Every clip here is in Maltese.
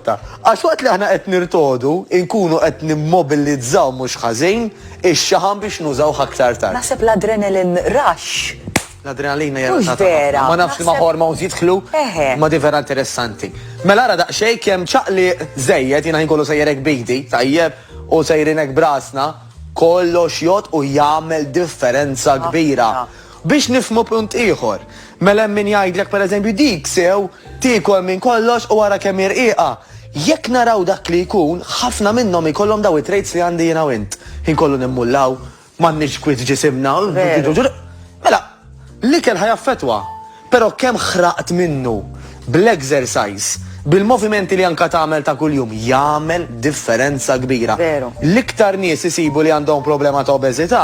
rotta. Għax waqt li aħna qed nirtogħdu, inkunu qed nimmobilizzaw mhux ħażin ix-xaħam biex nużawh aktar tard. Naħseb l-adrenalin rush L-adrenalina hija Mhux relatata vera, ħafna. Ma nafx li ma naħseb- hormones jidħlu. Eħe. Ma di vera interessanti. Mela ara daqsxejn kemm ċaqli żejjed jiena ħin kollu sejjer hekk bidi, tajjeb, u sejrin hekk brasna, kollox jgħod u jagħmel differenza kbira. Biex nifhmu punt ieħor, mela hemm min jgħidlek pereżempju dik sew tiekol minn kollox u ara kemm hi rqiqa. Jekk naraw dak li jkun, ħafna minnhom jkollhom dawn it-traits li għandi jiena u int. Ħin kollu nimmullaw, m'għandniex kwiet f'ġisimna, mela l-ikel ħa jaffettwa. Però kemm ħraqt minnu? Bl-exercise, bil-movimenti li anke tagħmel ta' kuljum, jagħmel differenza kbira. L-iktar nies isibu li għandhom problema ta' obeżità,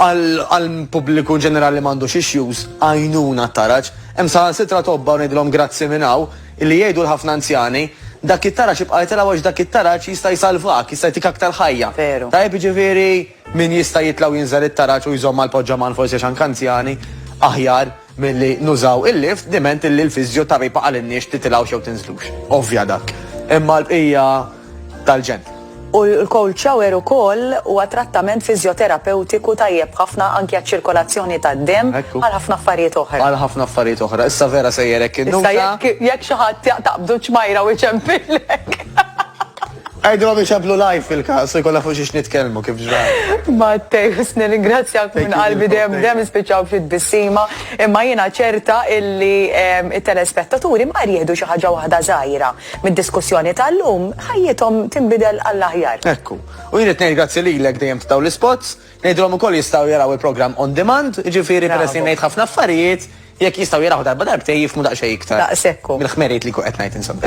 Għal pubbliku ġenerali li m'għandux issues, għajnuna t-taraġ. Hemm saħansitra tobba, u ngħidilhom grazzi minn hawn, li jgħidu l-ħafna anzjani, Dak it-taraġ ibqa' itilgħu għax dak it-taraġ jista' jsalvak, jista' jtik aktar ħajja. Tajjeb, jiġifieri min jista' jitlgħu jinżel it-taraġ u jżomm mal-poġġaman forsi għax anke anzjani, aħjar. milli nużaw il-lift diment illi l-fiżjo tara jpaqalilniex titilgħux jew tinżlux. Ovvja dak. Imma l-bqija tal-ġenn. U l-cold shower ukoll huwa trattament fiżjoterapewtiku tajjeb ħafna anki għaċ-ċirkolazzjoni tad-demm għal ħafna affarijiet oħra. Għal ħafna affarijiet oħra. Issa vera sejjer hekk innuta. Issa jekk xi ħadd jaqtaq b'du ċmajra u jċempillek. Għidilhom iċemplu live fil-każ u jkollna fuq xiex nitkellmu kif ġrat. Matteus, nirringrazzjak minn qalbi dejjem dejjem nispiċċaw b'xi tbissima, imma jiena ċerta illi t-telespettaturi mingħajr jieħdu xi ħaġa waħda żgħira mid-diskussjoni tal-lum, ħajjithom tinbidel għall-aħjar. Hekk hu. U jien irid ngħid grazzi lilek dejjem ta' dawn l-ispots. Ngħidilhom ukoll jistgħu jaraw il-programm on demand, jiġifieri peress li ngħid ħafna affarijiet, jekk jistgħu jaraw darba darbtejn jifhmu daqsxejn iktar. Daqshekk hu. Mill-ħmerijiet li jkun qed ngħid insomma.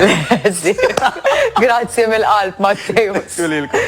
Grazzi mill-qalb Matteo. Grazzi lilkom.